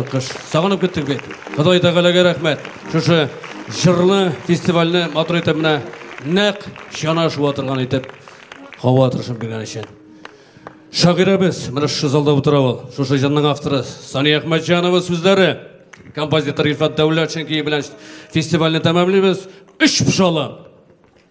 Кыш. Сагынып көттек бит. Ходай Тәгаләгә рәхмәт. Шушы җырлы фестивальне матур итеп менә нәкъ чана шуа торган итеп һава тырышып биргән өчен. Шагыйрәбез, менә шушы залда утыра ул. Шушы җырның авторы Сания Әхмәтҗанова сүзләре. Композитор Илфат Дәүләтшин көе белән фестивальне тәмамлыйбыз. Өч пшала!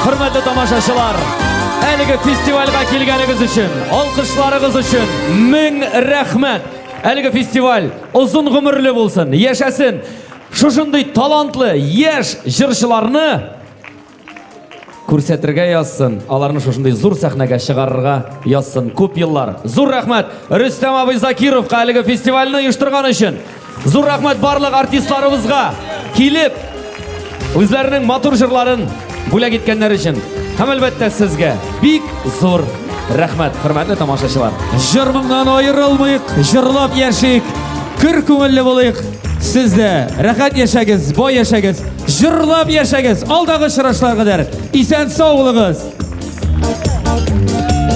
Хөрмәтле тамашачылар, әлеге фестивальгә килгәнегез өчен, алкышларыгыз өчен мең рәхмәт. Әлеге фестиваль озын гомерле булсын, яшәсен. Шушындый талантлы яшь җырчыларны Күрсәтергә язсын, аларны шушындый зур сәхнәгә чыгарырга язсын күп еллар. Зур рәхмәт Рөстәм абый Закировка әлеге фестивальне оештырган өчен. Зур рәхмәт барлык артистларыбызга килеп үзләренең матур җырларын бүләк иткәннәр өчен. Һәм әлбәттә сезгә бик зур рәхмәт, хөрмәтле тамашачылар. Җырмыңнан аерылмыйк, җырлап яшик, көр күңелле булыйк. Сез дә рәхәт яшәгез, бай яшәгез, җырлап яшәгез. Алдагы чырашлар кадәр исән сау булыгыз.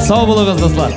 Сау булыгыз, дуслар.